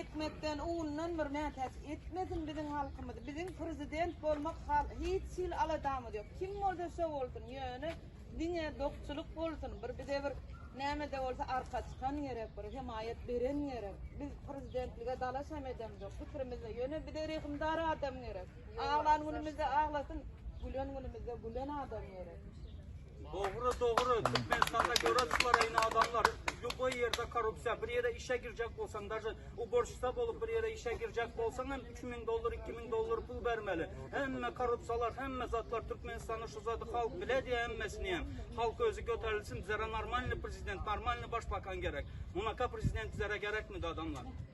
Ekmekden undan bir mätäç etmesin biziň halkymyzy biziň prezident bolmak hal hiç hili aladamyz ýok kim bolsa şo bolsun ýöne diňe dokçulyk bolsun bir bize bir nämede bolsa arka çykan gerek bir hemaýat beren gerek biz prezidentlige dalaş hem edemzok pikirimizde ýöne bize rehimdar adam gerek aglan günümizde aglasyn gülen günümizde gülen adam gerek. Dogry dogry Türkmenistanda göreç bar eýne adamlar ljuboý ýerde korrupsiýa bir ýere işe girjek bolsaň daže uborşsa bolup bir ýere işe girjek bolsaň hem 3000 dollar 2000 dollar pul bermeli hemme korrupsiýalar hemme zatlar Türkmenistanda şu zady halk biledi hemmesini hem halk özi göterilsin bizlere normalny prezident normalny başbakan gerek munaka prezident bizlere gerekmidi adamlar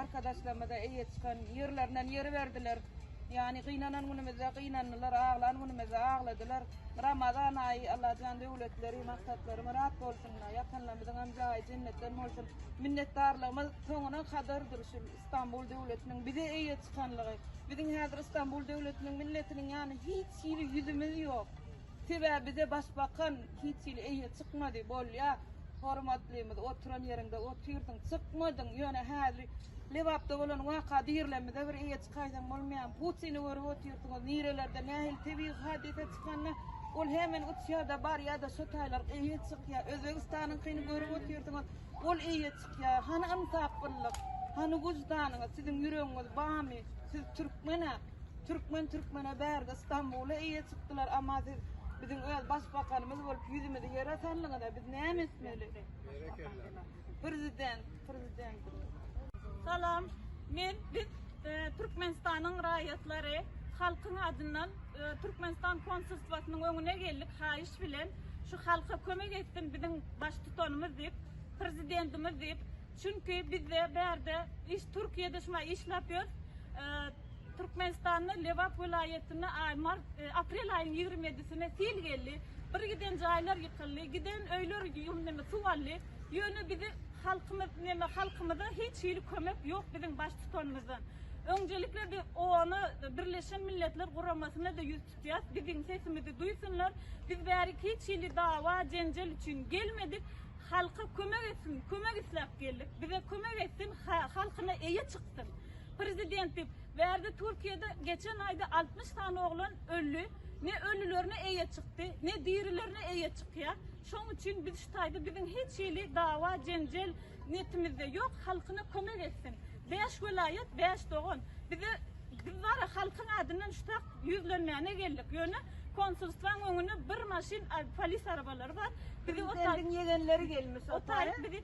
Arkadaşlarymyza eýe çykan ýerlerinden ýeriberdiler. Ýagny gynanan günümizde gynandylar, aglan günümizde agladylar. Ramazan aýy Allajan döwletleri, maksatlar myrat bolsun. Ýatanlarymyzyňam jaýy jennetden bolsun. Minnetdarlygymyz soňuna kadardyr şu Stambul döwletiniň bize eýe çykanlygy. Biziň häzir Stambul döwletiniň milletiniň ýany hiç hili ýüzümiz ýok. Sebäbi bize başbakan hiç hili eýe çykmady. Bolýa, hormatlymyz, oturan ýeriňde otyrsyň, çykmadyň. Ýöne häzir Lebapda bolan waka dirilemizde bir eýe çykaýsaň bolmaýamy? Putini görüp otyrsyňyz, nirelerde nähili tebigy hadysa çykanda ol hemen uçýa-da barýa-da şo taýlar eýe çykýa. Özbegistanyňkyny görüp otyrsyňyz, ol eýe çykýa. Hany ynsaplylyk? Hany wyždanyňyz? Siziň ýüregiňiz barmy? Siz türkmen-ä? Türkmen türkmene bärde Stambula eýe çykdylar ama siz biziň öz başbakanymyz bolup ýüzümizi ýere saldyňyza biz näme etmeli? Prezident, prezidentimiz. Salam. Men biz e, Türkmenistanyň raýatlary halkyň adyndan e, Türkmenistan konsulstwasynyň öňüne geldik haýyş bilen şu halka kömek etsin biziň baştutanymyz diýip, prezidentimiz diýip Çünki bizde bärde iş Türkiýede şuma işlap ýörüs. Türkmenistanda Lebap welaýatynda aý mart aprel aýynyň ýigrimi ýedisine sil geldi. Bir giden jaýlar ýykyldy. Giden öýler neme suw aldy. Ýöne bizi halkymyz neme halkymyza hiç hili kömek ýok biziň baş tutanymyzdan. Öňjelikle biz OONA Birleşen Milletler Guramasyna da ýüz tutýas. Biziň sesimizi duýsunlar. Biz bärik hiç hili dawa jenjel üçin gelmedik. Halka kömek etsin kömek isläp geldik bize kömek etsin halkyna eýe çyksyn prezident diýip bärde türkiýede geçen aýda altmyş sany oglan öldi ne ölülerine eýe çykdy ne dirilerine eýe çykýar şoň üçin biz şu taýda biziň hiç hili dawa jenjel netimizde ýok halkyna kömek etsin bäş welaýat bäş dogan bize biz bara halkyň adyndan şu Ýüzlenmäne geldik. Ýöne konsulstwaň öňüne bir maşyn polis arabalary bar. Bizi Prezidentiň ýegenleri gelmiş otary. Bizi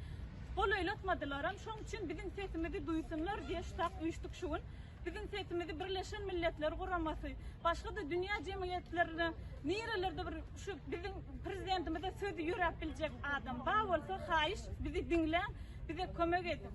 golaýlatmadylaram. Şoň üçin biziň sesimizi duýsunlar diýe ştab üýşdük şu gün. Biziň sesimizi Birleşen Milletler Guramasy, başga-da dünýä jemgyýetlerine nirelerde bir şu biziň prezidentimize sözi ýöräp biljek adam bar bolsa, haýyş bizi diňläň, bize kömek ediň.